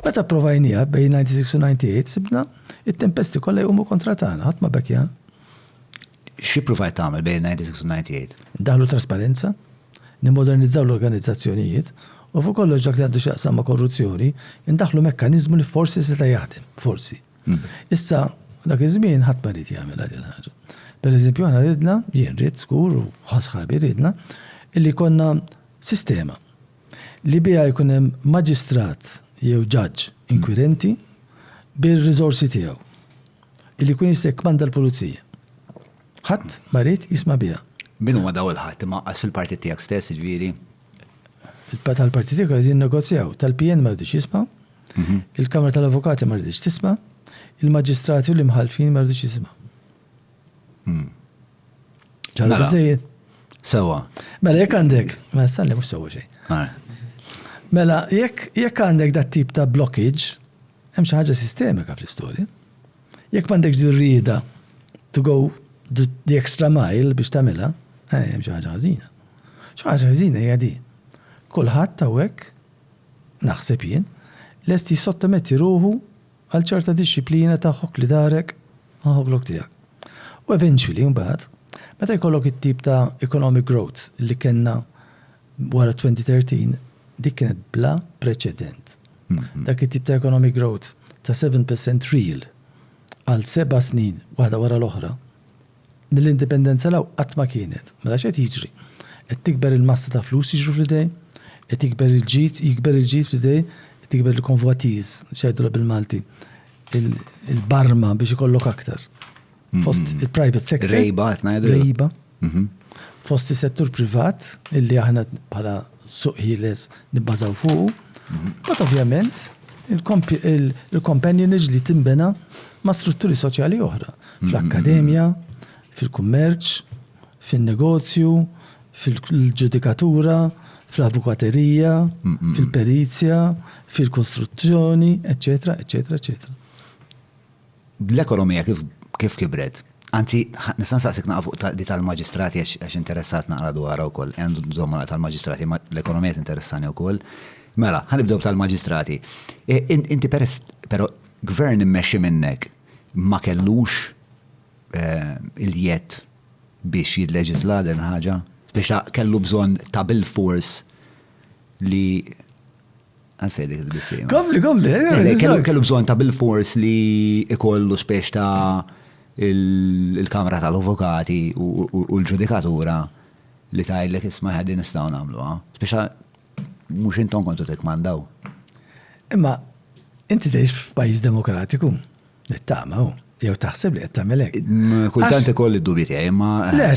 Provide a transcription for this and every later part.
Meta pprovajniha bejn 96 u 98 sibna it-tempesti kollha jqumu kontra tagħna, ħadd ma bekja. Xi pruvajt tagħmel bejn 96 u 98? Ndaħlu trasparenza, nimmodernizzaw l-organizzazzjonijiet u fuq kollox dak li għandu x'jaqsam ma' korruzzjoni, indaħħlu mekkaniżmu li forsi seta' jaħdem, forsi. Issa dak iż-żmien ħadd ma ried jagħmilha din il-ħaġa. Pereżempju aħna ridna, jien ridt żgur u ħa sħabi ridna, illi jkollna sistema. li biha jkun hemm maġistrat jew ġaġġ inkwirenti bir-riżorsi tiegħu, li jkun jista' jikkmanda l-pulizija. Ħadd ma ried jisma' biha. Min huma dawn il-ħadd? Imma anqas fil-partit tiegħek stess, jiġifieri. Tal-partit tiegħi qed jinnegozjaw. Tal-PN ma ridux jismgħu, il-Kamra tal-Avukati ma riditx tisma', il-maġistrati u l-imħallfin ma ridux jisimgħu. Hmm. Ċara mela. biżejjed? Sewa. Mela jekk għandek, ma salli mhux sewa xejn. Mela jekk jekk għandek dat tip ta' blockage, hemm xi ħaġa sistemika fl-istorja. Jekk m'għandekx dirrida to go the extra mile biex tagħmilha, eh, hemm xi ħaġa ħażina. Xi ħaġa ħażina hija di. Kulħadd hawnhekk naħseb jien lest jissottometti ruħu Għal ċerta dixxiplina ta' ħokk li darek ma' ħoklok tiegħek. U eventually imbagħad, meta jkollok it-tip ta' economic growth li kellna wara 2013, dik kienet bla preċedent. Dak it-tip ta' economic growth ta' seven percent real għal seba' snin waħda wara l-oħra, Mill-Indipendenza 'l hawn qatt ma kienet. Mela x'qed jiġri? Qed tikber il-massa ta' flus jiġru fl-idejn, qed jikber il-ġid, jikber il-ġid fl-idejn, qed jikber il-convoitise, x'jgħidulha bil-Malti, il-barma biex ikollok aktar. Fost il-private sector. Rejba qed ngħidulha. Rejba. Fost is-settur privat, illi aħna bħala suq ħieles nibbażaw fuqu. Mbagħad ovvjament il-companionage li tinbena ma' strutturi soċjali oħra, fl-akkademja, fil-kummerċ, fin-negozju, fil-ġudikatura, fl-avukaterija, fil-perizja, fil-kostruzzjoni, eċċetera, eċċetera, eċċetera. Bl-ekonomija kif kibret, anzi nista' nsaqsik naqra fuq di tal-maġistrati għax interessat naqra dwarha wkoll, ejja nżommu naqra tal-maġistrati imma l-ekonomija tinteressani wkoll. Mela, ħa nibdew tal-maġistrati. Inti peress, però gvern immexxi minnek ma kellux il-jedd biex jilleġiżla din il-ħaġa? Biex kellu bżonn ta' bilfors li Għalfej dik il-bisim. Kompli, kompli. Eh, eh, kellu bżon ta' bil-fors li ikollu spiex ta' il-kamra tal-avokati u l-ġudikatura li ta' il-lek isma ħaddi nistaw namlu. Spiex mux intom kontu t-kmandaw. Imma, inti teħx f'pajis demokratiku, nittama, u jew taħseb li qed tagħmel hekk. Kultant ikoll id-dubi tiegħi, imma. Le,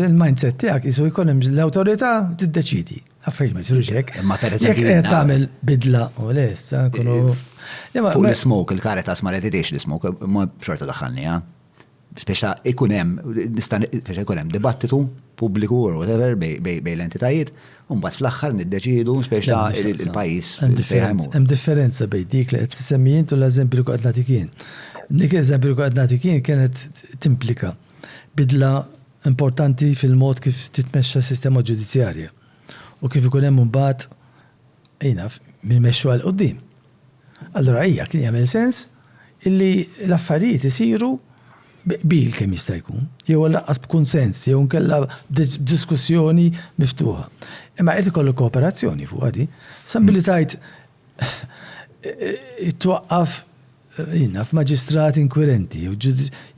il-mindset tiegħek isu jkun hemm l-awtorità tiddeċidi. Affarijiet ma jsirux hekk. Imma pereżempju. Jekk tagħmel bidla u lessa, kunu. Fuq l-smoke, il-karitas ma reditiex l-smoke, ma xorta daħħalni, ha? Speċa ikun hemm, nista' speċa ikun hemm dibattitu pubbliku or whatever bej l-entitajiet, u mbagħad fl-aħħar niddeċidu speċa il-pajjiż. Hemm differenza bejn dik li qed tisemmi int u l-eżempju li qed nagħtik jien. Dik eżempju li qed nagħtik jien kienet timplika bidla importanti fil-mod kif titmexxa s-sistema ġudizzjarja u kif ikun hemm imbagħad min jaf min imexxuha 'l quddiem. Allura hija kien jagħmel sens illi l-affarijiet isiru bi qbil kemm jista' jkun, jew għallaqqas b'kunsens jew inkella b'diskussjoni miftuħa. Imma jrid ikollu kooperazzjoni fuqha din. Sa milli tgħid Twaqqaf jina f'maġistrat inkwirenti,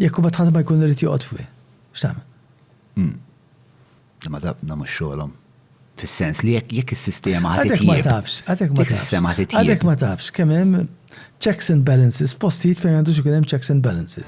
jekk u batħat ma jkun rrit joqgħod fih. X'tagħmel? Hmm. Ma taf na mhux xogħolhom. Fis-sens li jekk jekk is-sistema ħadd Għadek ma tafx, għadek ma tafx. Għadek ma tafx kemm hemm checks and balances, postijiet fejn għandux ikun hemm checks and balances.